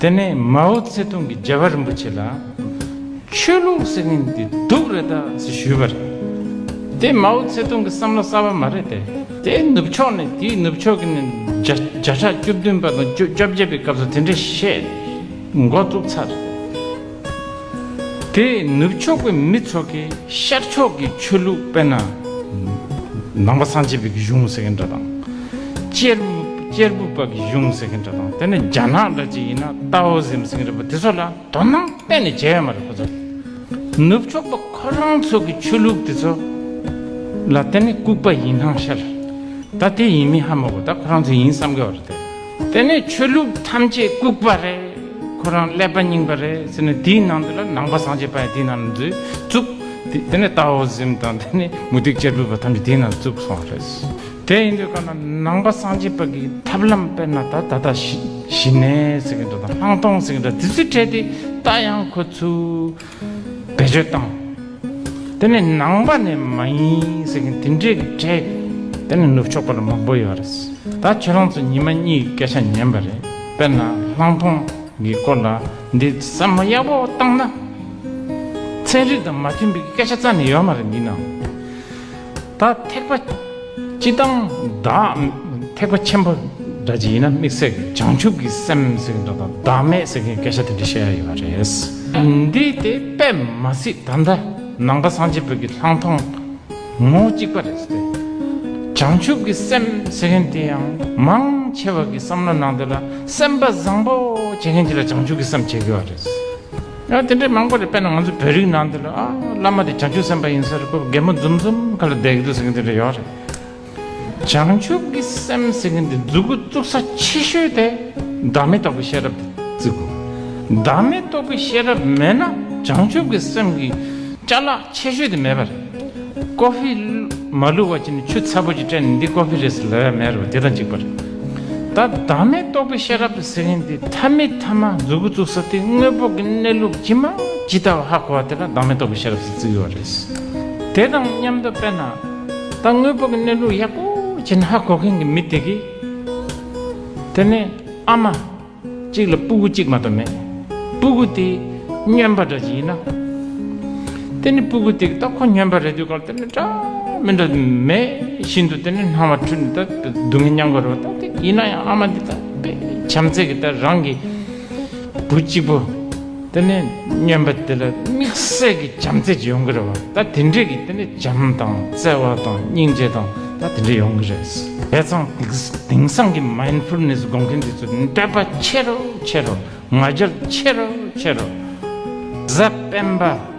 དེ་ནས་མའོ་ཙེ་ཏུང་གིས་རྒྱལ་བ་རིན་པོ་ཆེ་ལ། ཆོས་ལུགས་ཟེར་མཁན་དེ་སྡུག་རེད་ད་ཟེར་ཞུས་པར། དེ་མའོ་ཙེ་ཏུང་གི་བསམ་བློ་གསར་བ་མ་རེད་དེ། དེ་ནུབ་ཕྱོགས་ནས་དེའི་ནུབ་ཕྱོགས་ཀྱི་ནས་བརྒྱ་ཕྲག་བཅུ་བདུན་པ་དང་བཅུ་བརྒྱད་པའི་སྐབས་སུ་དེ་འདྲའི་བཤད་མགོ་བཙུགས་ཚར། དེས་ནུབ་ཕྱོགས་པའི་མི་ཚོགས་ཀྱིས་ཤར་ཕྱོགས་ཀྱི་ཆོས་ལུགས་དཔེར་ན། ནང་པ་སངས་རྒྱས་པའི་གཞུང་ཟེར་མཁན་འདྲ་དང། གཅེར་བུ་པ་གི་གཞུང་ཟེར་མཁན་འདྲ་དང་དེ་ནི་རྒྱ་ནག་འདྲ་གཅིག་ཡིན་ན་ཏའོ་ཟིམ་ཟེར་མཁན་འདྲ་པོ་དེ་ཚོ་ལ་དོ་སྣང་གཏན་ནས་བྱེད་ཡ་མ་རེད་ཁོ་ཚོ། ནུབ་ཕྱོགས་པ་ཁོ་རང་ཚོ་གི་ཆོས་ལུགས་དེ་ཚོ་ལ་དེ་ནི་ལྐུགས་པ་ཡིན་སྣང་ཤར། ད་དེ་ཡིན་མིན་ཧ་མ་གོ་ད་ཁོ་རང་ཚོ་ཡིན་བསམ་གི་བ་རེད་དེ། དེ་ནས་ཆོས་ལུགས་ཐམས་ཅད་བཀུག་པ་རེད། ཁོ་རང་ཀླད་པ་རྙིང་པ་རེད་ཟེར་ནས་དེའི་ནང་དུ་ལ་ནང་པ་སངས་རྒྱས་པ་ཡང་དེའི་ནང་ལ་འཛུལ་བཅུག་དེ་ནས་ཏའོ་ཟིམ་དང་དེ་ནས་མུ་སྟེགས་གཅེར་བུ་བ་ཐམས་ཅད་དེའི་ནང་བཅུག་སོང་བ་རེད། དེ་ཡིན་དུས་ཀ་ན་ནང་པ་སངས་རྒྱས་པ་གི་ཐབས་ལམ་དཔེར་ན་ད་ད་ལྟ་ཞི་གནས་ཟེར་གྱི་འདུག་དང་ལྷག་མཐོང་ཟེར་གྱི་འདུག་དེ་ཚོས་ཕྲལ་ཏེ་ད་ཡང་ཁོ་ཚོའི། བེད་སྤྱོད་བཏང། དེ་ནས་ནང་པ་ནས་མ་ཡིན་ཟེར་མཁན་དེ་འདྲའི་གྲས་དེ་ནས་ནུབ་ཕྱོགས་པ་རུ་མང་པོ་ཡོད་རེད། ད་ཁྱེད་རང་ཚོ་ཉི་མ་གཉིས་ཀྱི་སྐད་ཆ་ཉན་པ་རེད་དཔེར་ན་ལྷང་ཐོང་གི་སྐོར་ལ་འདི་ཟ་མ་ཡག་པོ་བཏང་ན། ཚན་རིག་དང་མ་མཐུན་པའི་སྐད་ཆ་རྩ་ནས་ཡོད་མ་རེད་འདི་ནང། ད་ཐེག་པ་སྤྱི་དང་བདག་ཐེག་པ་ཆེན་པོ་འདྲ་ཅི་ཡིན་ན་དམིགས་བསལ་གྱི་བྱང་ཆུབ་ཀྱི་སེམས་ཟེར་གྱི་འདྲ་དང་བདག་མེད་ཟེར་གྱི་སྐད་ཆ་དེ་འདྲ་བཤད་ཡ་ཡོད་པ་རེད། འདི་དེ་པད་མ་སི་ད་འདྲ་ནང་པ་སངས་རྒྱས་བོད་ཀྱི་ལྷག་མཐོང་ངོ་གཅིག་པ་རེད་ཟེར་ཏེ། བྱང་ཆུབ་ཀྱི་སེམས་ཟེར་མཁན་དེ་ཡང་མང་ཆེ་བ་གི་བསམ་བློ་ནང་དེ་ལ་སེམས་པ་བཟང་པོ་བྱེད་མཁན་དེ་ལ་བྱང་ཆུབ་ཀྱི་སེམས་བྱེད་དགོས་པ་རེད། ཡང་དེ་འདྲའི་མང་པོ་རེད་དཔེར་ན་ང་ཚོ་བོད་རིགས་ནང་དུ་ལ་བླ་མ་དེ་བྱང་ཆུབ་སེམས་དཔའ་ཡིན་ཟེར་དགོས་རྒན་མོ་འཛུམ་འཛུམ་ཁ་ལ་བསྡད་གི་འདུག་ཟེར་གི་འདི་འདྲ་ཡོད་རེད། བྱང་ཆུབ་ཀྱི་སེམས་ཟེར་གི་འདི་འཛུགས་དགོས་བཙུགས་ས་ཆེ་ཤོས་དེ་བདག་མེད་རྟོགས་པའི་ཤེས་རབ་དེ་བརྩི་དགོས། བདག་མེད་རྟོགས་པའི་ཤེས་རབ་མེད་ན་བྱང་ཆུབ་ཀྱི་སེམས་ཀྱི་བཅའ་ལག་ཆེ་ཤོས་དེ་མེད་པ་རེད། ཀོ་ཧྥི། མ་ལུས་བ་ཅི་ནི་ཆུ་ཚ་པོ་ཅིག་སྤྲད་ནས་འདི་ཀོ་ཧྥི་རེད་ཟེར་ལ་ཡ་མེད་རེད་བ་དེ་དང་གཅིག་པ་རེད། ད་བདག་མེད་རྟོགས་པའི་ཤེས་རབ་ཟེར་མཁན་འདི་མཐའ་མི་མཐའ་མ་མཛུ་གུ་བཙུགས་ས་དེ་དངོས་པོ་གི་གནས་ལུགས་ཇི་མ་ཇི་ལྟ་བ་ཧ་གོ་བ་དེ་ལ་བདག་མེད་རྟོགས་པའི་ཤེས་རབ་ཟེར་བརྩི་གི་བ་རེད། དེ་དང་མཉམ་དུ་དཔེར་ན། ད་དངོས་པོ་གི་གནས་ལུགས་ཡག་པོ་ཅིག་ཧ་གོ་མཁན་གྱི་མི་དེ་གིས། དེ་ནི་ཨ་མ། གཅིག་ལ་སྤུ་གུ་གཅིག་མ་གཏོགས་མེད། སྤུ་གུ་དེ་སྨྱོན་པ་འདྲ་ཅིག་ཡིན་ན། དེ་ནི་སྤུ་གུ་དེ་གི་སྟབས་ཁོ་སྨྱོན་པ་རེད་དུས་སྐབས་དེ་ནི་འདྲ་མི་འདྲ་མེད་བཞིན་དུ་དེ་ནི་སྣང་བ་འཁྲུལ་ནས་ད་སྡུག་བསྔལ་མྱང་དགོས་རེད་བ་ད་ཡིན་ན་ཡང་ཨ་མ་འདི་ད་དཔེ་བྱམས་བརྩེ་གི་ད་རང་གི་བུ་གཅིག་པོ། དེ་ནས་སྨྱོན་པ་དེ་ལ་དམིགས་བསལ་གྱི་བྱམས་བརྩེ་ཡོང་གི་རེད་བ་ད་དེ་འདྲས་ཀྱི་དེ་ནས་བྱམས་དང་བརྩེ་བ་དང་སྙིང་རྗེ་དང་ད་དེ་འདྲས་ཡོང་གི་རེད་དེ་ཚང་དེང་སང་གི Mindfulness དགོངས་མཁན་དེ་ཚོ་འདྲེས་པ་ཆེ་རུ་ཆེ་རུ་ང་རྒྱལ་ཆེ་རུ་ཆེ་རུ་གཟའ་སྤེན་པ།